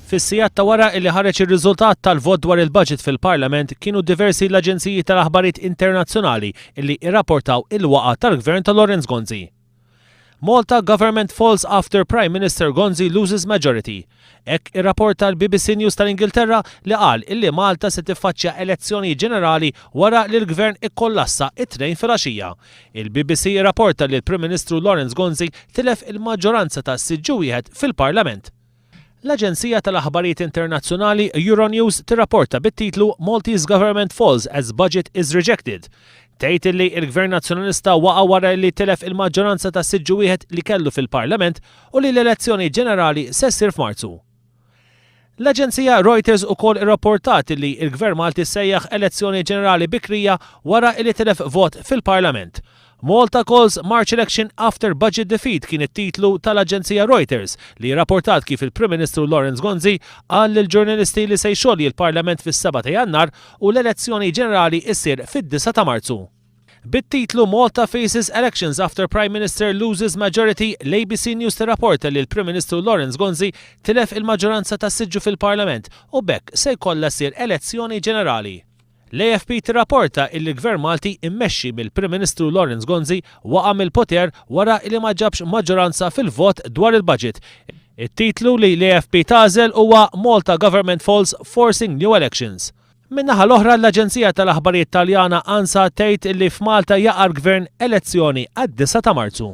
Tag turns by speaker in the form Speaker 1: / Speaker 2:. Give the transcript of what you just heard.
Speaker 1: Fis-sigħat ta' wara illi ħareġ ir-riżultat tal-vot dwar il-budget fil-Parlament kienu diversi l-aġenziji tal-aħbarijiet internazzjonali illi irrapportaw il-waqgħa tal-Gvern ta' Lawrence Gonzi. Malta government falls after Prime Minister Gonzi loses majority. Hekk irrapporta l-BBC News tal-Ingilterra li qal illi Malta se tiffaċċja elezzjonijiet ġenerali wara li l-Gvern ikkollassa it-Tnejn filgħaxija. Il-BBC irrapporta li l-Prim Ministru Lawrence Gonzi tilef il-maġġoranza ta' siġġu wieħed fil-Parlament. L-aġenzija tal-aħbarijiet internazzjonali Euronews tirrapporta bit-titlu Maltese Government Falls as Budget is Rejected. Tgħid illi l-Gvern Nazzjonalista waqa' wara li tilef il-maġġoranza ta' siġġu wieħed li kellu fil-Parlament u li l-elezzjoni ġenerali se ssir f'Marzu. L-aġenzija Reuters ukoll irrapportat illi l-Gvern Malti sejjaħ elezzjoni ġenerali bikrija wara li tilef vot fil-Parlament. Malta Calls March Election After Budget Defeat kien it-titlu tal-aġenzija Reuters li irrapportat kif il-Prim Ministru Lawrence Gonzi qal lill-ġurnalisti li se jxolji l-Parlament fis-seba' ta' Jannar u l-elezzjoni ġenerali ssir fid-disa' ta' Marzu. Bit-titlu Malta Faces Elections After Prime Minister Loses Majority, l-ABC News tirrapporta li l-Prim Ministru Lawrence Gonzi tilef il-maġġoranza ta' siġġu fil-Parlament u b'hekk se jkollha ssir elezzjoni ġenerali. L-AFP tirrapporta illi l-Gvern Malti mmexxi mill-Prim Ministru Lawrence Gonzi waqa' mill-poter wara li ma ġabx maġġoranza fil-vot dwar il-Budget, It-titlu li l-AFP tagħżel huwa Malta Government False Forcing New Elections. Min-naħa l-oħra l-aġenzija tal-aħbarijiet Taljana ANSA tgħid li f'Malta jaqa' l-Gvern elezzjoni għad-disgħa ta' Marzu.